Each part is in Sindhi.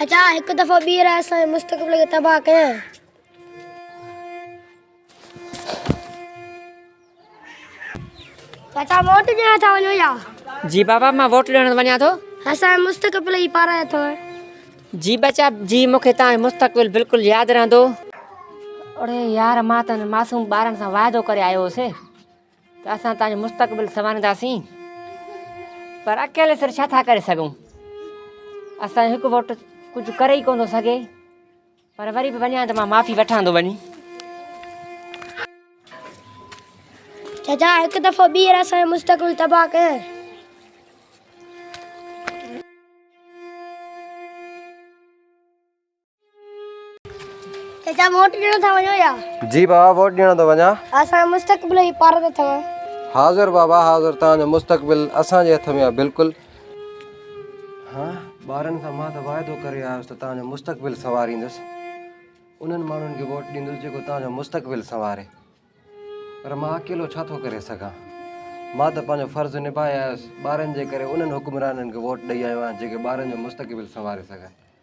اچا هڪ دفعو ٻيهر اسان جي مستقبل کي تباهه ڪيائين. چاچا ووٽ ڏيڻ ٿا وڃو يا؟ جي بابا مان ووٽ ڏيڻ وڃان ٿو. اسان جي مستقبل جي پارايو ٿو. جي ٻچا جي مون کي توهان جو مستقبل بلڪل ياد رهندو. اڙي يار مان ته انهن معصوم ٻارن سان واعدو ڪري آيو هوسي. ته اسان تنهنجو مستقبل سنوارينداسين پر اڪيلي سر ڇا ٿا ڪري سگهون اسان هڪ ووٽ ڪجهه ڪري ئي ڪون ٿو سگهي پر وري به وڃان ته مان معافي وٺان ٿو وڃي چچا هڪ دفعو ٻيهر اسان مستقبل تباهه ڪيائين چچا ووٽ ڏيڻ ٿا وڃو يا؟ جي بابا ووٽ ڏيڻ ٿو وڃان. اسان جو مستقبل ئي پارت اٿم. حاضر بابا حاضر توهان جو مستقبل اسان جي هٿ ۾ آهي بلڪل. ها ٻارن سان مان ته واعدو ڪري آيس ته توهان جو مستقبل سنواريندس. انهن ماڻهن کي ووٽ ڏيندس جيڪو توهان جو مستقبل سنواري. پر مان اڪيلو ڇا ٿو ڪري سگهان. مان ته پنهنجو فرض نڀائي آيس ٻارن جي ڪري انهن حڪمرانن کي ووٽ ڏئي آيو آهيان جيڪي ٻارن جو مستقبل سنواري سگهن.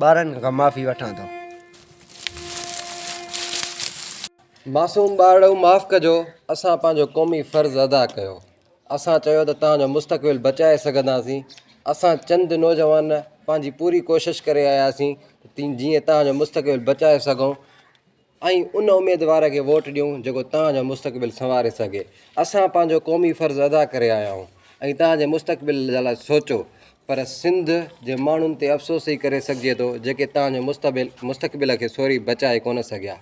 ٻارن کان معافي وٺان ٿو. معصوم ٻارڙو معاف ڪجو اسان پنهنجو قومي فرض ادا ڪيو اسان چيو ته تهان جو مستقبل بچائي سگهنداسين اسان چند نوجوان پنهنجي پوري ڪوشش ڪري آياسين ته جيئن تهان جو مستقبل بچائي سگهون ۽ ان اميدوار کي ووٽ ڏيون جيڪو توهان جو مستقبل سنواري سگهي اسان پنهنجو قومي فرض ادا ڪري آيا آهيون ۽ توهان جي مستقبل جي لاء سوچو پر سنڌ جي ماڻهن تي افسوس ئي ڪري سگهجي ٿو جيڪي توهان جو مستبل مستقبل کي سوري بچائي ڪونه سگهيا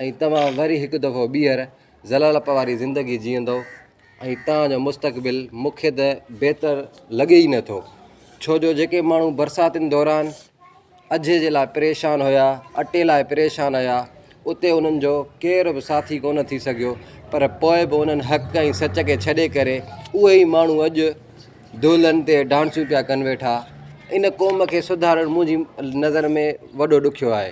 ۽ توهان وري هڪ دفعو ٻيهر ذلالپ واري زندگي جيئندو ۽ تان جو مستقبل مون کي ته بهتر لڳي ئي نٿو ڇو جو جيڪي ماڻهو برساتن دوران اجهي جي لاء پريشان هيا اٽي لاء پريشان هيا اتي انهن جو ڪير به ساٿي ڪونه ٿي سگهيو پر پوء به انهن حق ۽ سچ کي ڇڏي ڪري اهي ئي ماڻهو اڄ دولن تي ڊانسون پيا ڪن ويٺا ان قوم کي سڌارڻ منهنجي نظر ۾ وڏو ڏکيو آهي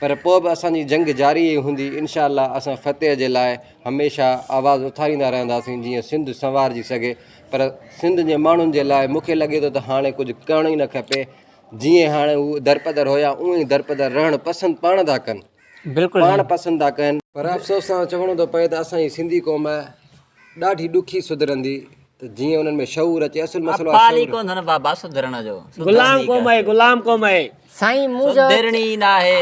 پر پوء به اسان جي جنگ جاري ئي هوندي، انشاء الله اسان فتح جي لاء هميشه آواز اٿاريندا رهنداسين جيئن سنڌ سنوارجي سگهي پر سنڌ جي ماڻهن جي لاء مون کي لڳي ٿو ته هاڻي ڪجهه ڪرڻ ئي نه کپي جيئن هاڻي هو درپدر هيا اونئن ئي درپدر رهڻ پسند پاڻ ٿا ڪن بلڪل پاڻ سائين. پسند ٿا ڪن. پر افسوس سان چوڻو ٿو پوي ته اسان جي سنڌي قوم ڏاڍي ڏکي سڌرندي ته جيئن انهن ۾ شعور اچي اصل مسئلو آهي شعور. غلام قوم آهي غلام قوم آهي. سائين مون جو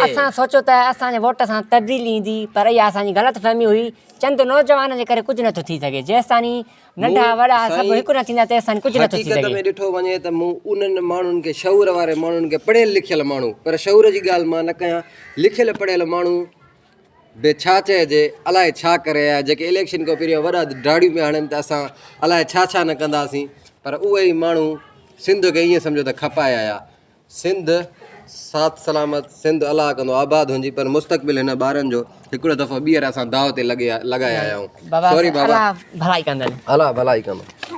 اسان سوچيو ته اسان جي ووٽ سان تبديلي ايندي پر اها اسان جي غلط فهمي هئي چند نوجوانن جي ڪري ڪجهه نٿو ٿي سگهي جيستاني ننڍا وڏا سڀ هڪ نه ٿيندا تيستاني ڪجهه نٿو ٿي سگهي. حقيقت ۾ ڏٺو وڃي ته مون انهن ماڻهن کي شعور واري ماڻهن کي پڙهيل لکيل ماڻهو پر شعور جي ڳالهه مان نه ڪيان لکيل پڙهيل ماڻهو به ڇا چئجي الاء ڇا ڪري آيا جيڪي اليڪشن کان پهريان وڏا ڊاڙيون پيا هڻن ته اسان الاء ڇا ڇا نه ڪنداسين پر اهي ئي ماڻهو سنڌ کي ائين سمجهو ته کپائي آيا سنڌ سات سلامت سنڌ الله ڪندو آباد هونجي پر مستقبل هن ٻارن جو هڪڙو دفعو ٻيهر اسان داء تي لڳي لڳائي آيا آهيون سوري بابا الاء ڀلائي ڪندن الاء ڀلائي ڪندن